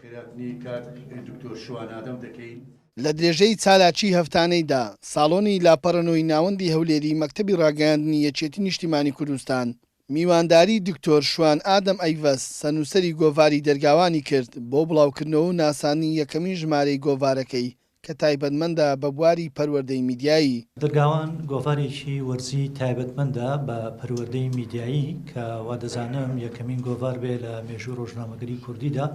خێراتنی کاک دکتۆر شوان ئادەم دەکەین. لە درێژەی چالاکیی هەفتانەیدا، ساڵۆنی لاپەڕەنۆی ناوەندی هەولێری مەکتەبی ڕاگەیاندنی یەکێتی نیشتیمانی کوردستان، میوانداری دکتۆر شوان ئادەم ئەیڤەس، سەرنووسەری گۆڤاری دەرگاوانی کرد بۆ بڵاوکردنەوە و ناساندنی یەکەمین ژمارەی گۆڤارەکەی کە تایبەتمەندە بە بواری پەروەردەی میدیایی. درگاوان گۆڤارێکی وەرزی تایبەتمەندە بە پەروەردەی میدیایی کە وادەزانم یەکەمین گۆڤار بێ لە مێژووی ڕۆژنامەگەری کوردیدا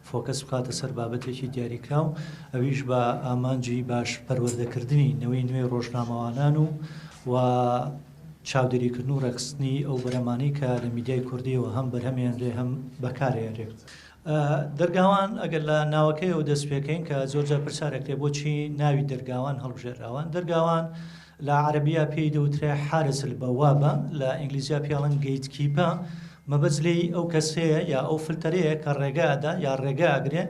فۆکەس بخاتە سەر بابەتێکی دیاریکراو ئەویش بە ئامانجی باش پەروەردەکردنی نەوەی نوێی ڕۆژنامەوانان و و چاودێریکردن و ڕێکخستنی ئەو بەرهەمانەی کە لە میدیای کوردییەوە هەم بەرهەمێنرێ هەم بەکارێنرێ. دەرگاوان، ئەگەر لە ناوەکەیەوە دەست پێکەین کە زۆر جار پرسیار ئەکرێ بۆچی ناوی دەرگاوان هەڵبژێراوە؟ دەرگاوان لە عەرەبییە پێی دەوترێ حارس البوابە، لە ئینگلیزییە پێی ئەڵێن گەیت کیپە، مەبەست لێی ئەو کەسەیە یا ئەو فلتەرەیە کە ڕێگە ئەدا یا ڕێگە ئەگرێ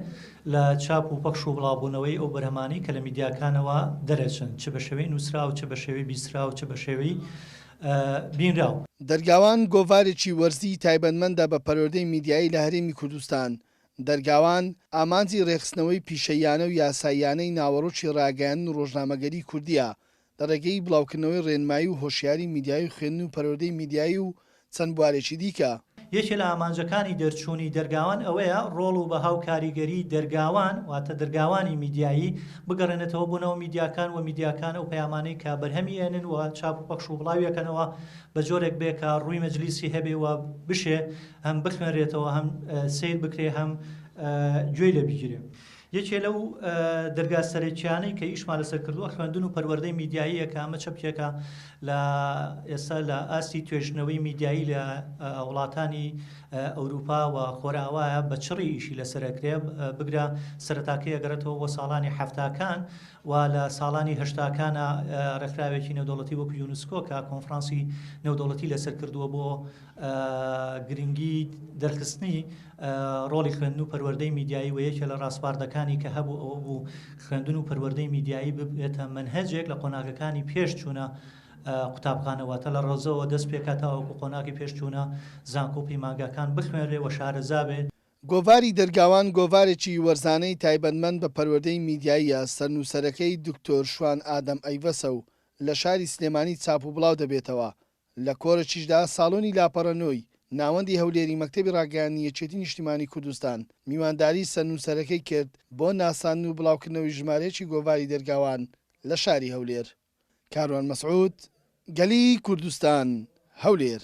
لە چاپ و پەخش و بڵاوبوونەوەی ئەو بەرهەمانەی کە لە میدیاکانەوە دەرئەچن، چ بە شێوەی نووسراو، چ بە شێوەی بیستراو، چ بە شێوەی بینراو. دەرگاوان گۆڤارێکی وەرزیی تایبەتمەندە بە پەروەردەی میدیایی لە هەرێمی کوردستان. دەرگاوان، ئامانجی ڕێکخستنەوەی پیشەییانە و یاساییانەی ناوەڕۆکی ڕاگەیاندن و ڕۆژنامەگەریی کوردییە، لە ڕێگەی بڵاوکردنەوەی ڕێنمایی و هۆشیاریی میدیایی و خوێندن و پەروەردەی میدیایی و چەند بوارێکی دیکە. یەکێ لە ئامانجەکانی دەرچوونی دەرگاوان ئەوەیە ڕۆڵ و بەها و کاریگەریی دەرگاوان واتە دەرگاوانی میدیایی بگەڕێنێتەوە بۆ ناو میدیاکان و میدیاکان ئەو پەیامانەی کە بەرهەمی ئەنن و چاپ و پەخش و بڵاوی ئەکەنەوە بە جۆرێک بێ کە ڕووی مەجلیسی هەبێ و بشێ هەم بخوێنرێتەوە هەم سەیر بکرێ هەم گوێی لێ بگیرێ. یەکێ لەو دەرگا سەرەکیانەی کە ئیشمان لەسەر کردووە خوێندن و پەروەردەی میدیاییەکە ئەمە چەپکێکە لە ئێستا لە ئاستی توێژنەوەی میدیایی لە وڵاتانی ئەوروپا و خۆراوایە بە چڕی ئیشی لەسەرکرێ بگرە سەرتاکەی ئەگەڕێتەوە بۆ ساڵانی حفتاکان و لە ساڵانی هەشتاکانە ڕێکخراوێکی نێودەوڵەتی وەکو یونسکۆ کە کۆنفرانسی نێودەوڵەتی لەسەر کردووە بۆ گرنگی دەرخستنی ڕۆڵی خوێندن و پەروەردەی میدیایی و یەکێ لە ڕاسپاردەکانی کە هەبوو ئەوە بوو خوێندن و پەروەردەی میدیایی ببێتە منهەجێک لە قۆناغەکانی پێش چوونە قوتابخانەوەتە لە ڕۆزەوە دەست پێکاتەوەکو قۆناغی پێش چوونە زانکۆ پەیمانگاکان بخوێنرێ و شارەزابێ گۆڤاری دەرگاوان گۆڤارێکی وەرزانەی تایبەتمەند بە پەروەردەی میدیاییە، سەرنووسەرەکەی دکتۆر شوان ئادەم ئەیڤەسە و لە شاری سلێمانی چاپ و بڵاو دەبێتەوە، لە کۆرەکیشدا ساڵۆنی لاپەڕە نۆی ناوەندی هەولێری مەکتەبی ڕاگەیاندنی یەکێتی نیشتیمانی کوردستان میوانداری سەر نووسەرەکەی کرد بۆ ناساندن و بڵاوکردنەوەی ژمارەیەکی گۆڤاری دەرگاوان لە شاری هەولێر. کاروان مەسعود، گەلی کوردستان، هەولێر.